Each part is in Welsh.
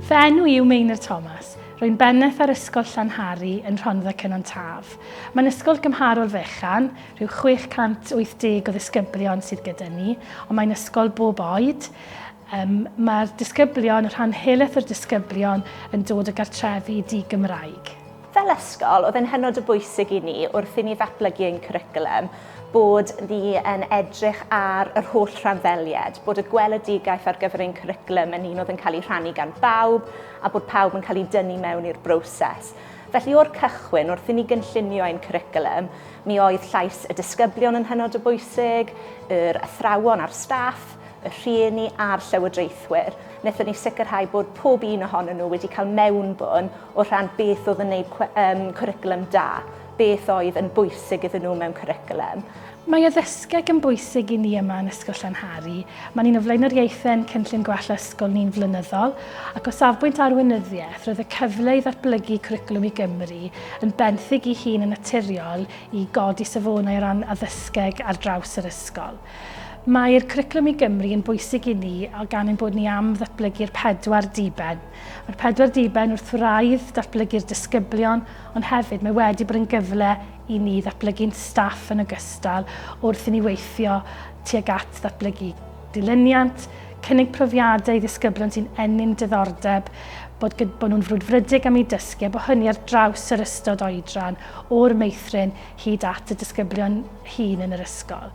Fy enw i yw Meinir Thomas. Rwy'n bennaeth ar Ysgol Llanhari yn Rhondda Cynon Taf. Mae'n ysgol gymharol fechan, rhyw 680 o ddisgyblion sydd gyda ni, ond mae'n ysgol bob oed. Um, Mae'r disgyblion, rhan helaeth o'r disgyblion, yn dod o gartrefi di-Gymraeg. Fel ysgol, oedd e'n hynod o bwysig i ni wrth i ni ddatblygu ein cwricwlwm bod ni yn edrych ar yr holl rhanddellied, bod y gweledigaeth ar gyfer ein cwricwlwm yn un oedd yn cael ei rhannu gan bawb a bod pawb yn cael eu dynnu mewn i'r broses. Felly, o'r cychwyn, wrth i ni gynllunio ein cwricwlwm, mi oedd llais y disgyblion yn hynod o bwysig, yr athrawon a'r staff, y rhieni a'r llywodraethwyr, wnaethon ni sicrhau bod pob un ohonyn nhw wedi cael mewnbwn o rhan beth oedd yn gwneud um, cwricwlwm da, beth oedd yn bwysig iddyn nhw mewn cwricwlwm. Mae addysgeg yn bwysig i ni yma yn Ysgol Llanhari. Mae ni'n o flaenoriaethau'n cynllun gwella ysgol ni'n flynyddol, ac o safbwynt arweinyddiaeth, roedd y cyfle i ddatblygu cwricwlwm i Gymru yn benthyg i hun yn naturiol i godi safonau o ran addysgeg ar draws yr ysgol. Mae'r Cwricwlwm i Gymru yn bwysig i ni gan ein bod ni am ddatblygu'r pedwar diben. Mae'r pedwar diben wrth wraidd datblygu'r disgyblion, ond hefyd mae wedi bod yn gyfle i ni ddatblygu'n staff yn ogystal wrth i ni weithio tuag at ddatblygu dilyniant, cynnig profiadau i ddisgyblion sy'n ennyn diddordeb, bod, bod nhw'n frwdfrydig am eu dysgu, a bod hynny ar draws yr ystod oedran, o'r meithrin hyd at y disgyblion hŷn yn yr ysgol.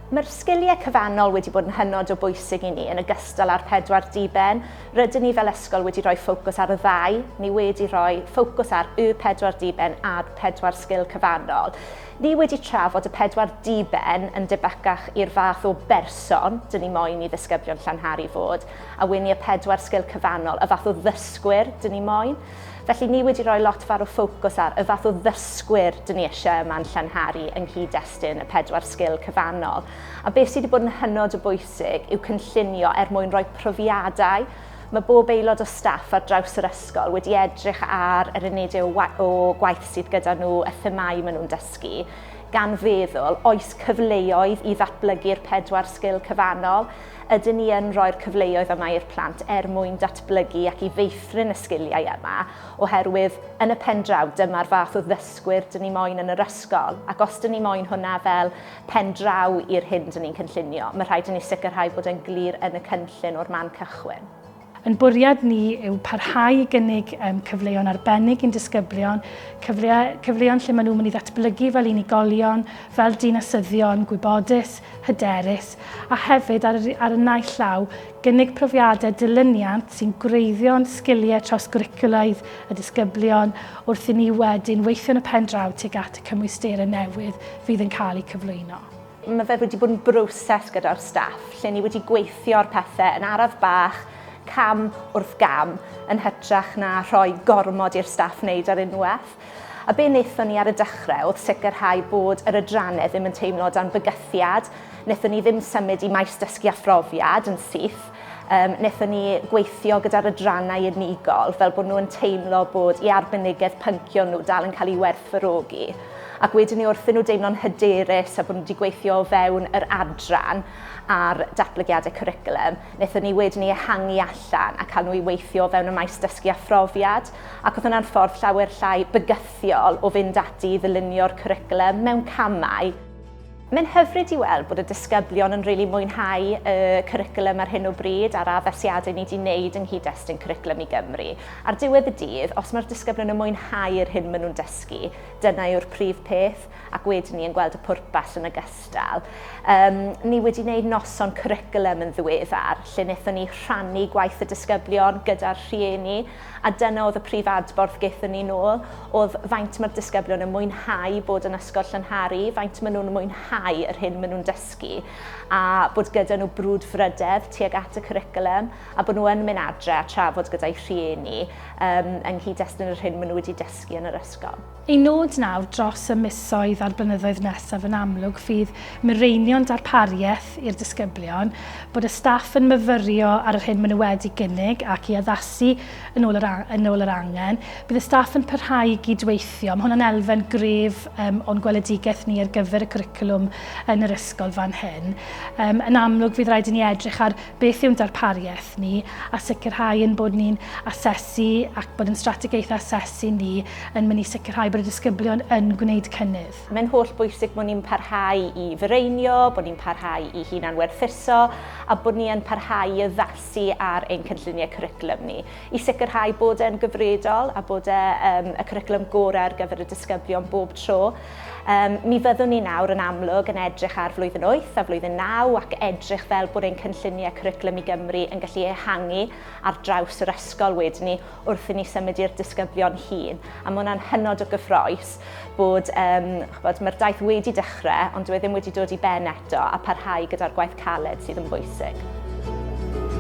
Mae'r sgiliau cyfannol wedi bod yn hynod o bwysig i ni yn ogystal â'r pedwar diben. Rydyn ni fel ysgol wedi rhoi ffocws ar y ddau, ni wedi rhoi ffocws ar y pedwar diben a'r pedwar sgil cyfannol. Ni wedi trafod y pedwar diben yn debycach i'r fath o berson dyn ni moyn i ddisgyblion Llanhari fod, a wn i y pedwar sgil cyfannol, y fath o ddysgwyr dyn ni moyn. Felly ni wedi rhoi lot fawr o ffocws ar y fath o ddysgwyr dyn ni eisiau yma'n Llanhari yng nghyd-destun y pedwar sgil cyfannol. A beth sydd wedi bod yn hynod o bwysig yw cynllunio er mwyn rhoi profiadau. Mae bob aelod o staff ar draws yr ysgol wedi edrych ar yr unedau o gwaith sydd gyda nhw, y themâu maen nhw'n dysgu, gan feddwl oes cyfleoedd i ddatblygu'r pedwar sgil cyfannol. Ydyn ni yn rhoi'r cyfleoedd yma i'r plant er mwyn datblygu ac i feithrin y sgiliau yma, oherwydd yn y pen draw dyma'r fath o ddysgwyr dyn ni moyn yn yr ysgol, ac os dyn ni moyn hwnna fel pen draw i'r hyn dyn ni'n cynllunio, mae rhaid i ni sicrhau bod e'n glir yn y cynllun o'r man cychwyn. Ein bwriad ni yw parhau i gynnig um, cyfleon arbennig i'n disgyblion, cyfle, cyfleon lle maen nhw'n mynd i ddatblygu fel unigolion, fel dinasyddion, gwybodus, hyderus, a hefyd ar, ar y naill llaw, gynnig profiadau dilyniant sy'n gwreiddio'n sgiliau trawsgwricwlaidd y disgyblion wrth i ni wedyn weithio'n y pen draw tuag at y cymwysterau newydd fydd yn cael eu cyflwyno. Mae fe wedi bod yn broses gyda'r staff lle ni wedi gweithio ar pethau yn araf bach, cam wrth gam, yn hytrach na rhoi gormod i'r staff wneud ar unwaith. A be wnaethon ni ar y dechrau oedd sicrhau bod yr adrannau ddim yn teimlo dan fygythiad, wnaethon ni ddim symud i maes dysgu a phrofiad yn syth, Yym, wnaethon ni gweithio gyda'r adrannau unigol fel bod nhw'n teimlo bod i arbenigedd pyncio nhw dal yn cael ei werthfawrogi. Ac wedyn ni wrthyn nhw deimlo'n hyderus a bod nhw wedi gweithio o fewn yr adran ar datblygiadau cwricwlwm, wnaethon ni wedyn ni ehangu allan a cael nhw i weithio o fewn y maes dysgu a phrofiad, ac oedd hwnna'n ffordd llawer llai bygythiol o fynd ati i ddylunio'r cwricwlwm mewn camau. Mae'n hyfryd i weld bod y disgyblion yn rili mwynhau y cwricwlwm ar hyn o bryd a'r addasiadau ni 'di wneud yng nghyd-destun Cwricwlwm i Gymru. Ar diwedd y dydd, os mae'r disgyblion yn mwynhau yr hyn maen nhw'n dysgu, dyna yw'r prif peth, ac wedyn ni yn gweld y pwrpas yn ogystal. Yym, ni wedi wneud noson cwricwlwm yn ddiweddar, lle wnaethon ni rhannu gwaith y disgyblion gyda'r rhieni, A dyna oedd y prif adborth gaethon ni nôl, oedd faint mae'r disgyblion yn mwynhau bod yn Ysgol Llynharu, faint maen nhw'n mwynhau yr hyn maen nhw'n dysgu, a bod gyda nhw brwdfrydedd tuag at y cwricwlwm, a bod nhw yn mynd adre a trafod gyda'u rhieni um, yng nghyd-destun yr hyn maen nhw wedi dysgu yn yr ysgol. Ein nod nawr dros y misoedd a'r blynyddoedd nesaf yn amlwg fydd mireinio'n darpariaeth i'r disgyblion, bod y staff yn myfyrio ar yr hyn maen nhw wedi gynnig ac i addasu yn ôl yr, yn ôl yr angen. Bydd y staff yn parhau i gydweithio, mae hwnna'n elfen gref um, o'n gweledigaeth ni ar gyfer y cwricwlwm yn yr ysgol fan hyn. Um, yn amlwg fydd rhaid i ni edrych ar Beth yw'n darpariaeth ni a sicrhau ein bod ni'n asesu ac bod yn strategaeth asesu ni yn mynd i sicrhau bod y disgyblion yn gwneud cynnydd. Mae'n holl bwysig bod ni'n parhau i fireinio, bod ni'n parhau i hunan werthuso a bod ni yn parhau i addasu ar ein cynlluniau cwricwlwm ni i sicrhau bod e'n gyfredol a bod e yn y cwricwlwm gorau ar gyfer y disgyblion bob tro. Um, mi fyddwn ni nawr yn amlwg yn edrych ar flwyddyn 8 a flwyddyn 9 ac edrych fel bod ein cynlluniau cwricwlwm i Gymru yn gallu ehangu ar draws yr ysgol wedyn ni wrth i ni symud i'r disgyblion hun. A mae hwnna'n hynod o gyffroes bod, um, chbod, mae'r daith wedi dechrau ond dwi e ddim wedi dod i ben eto a parhau gyda'r gwaith caled sydd yn bwysig.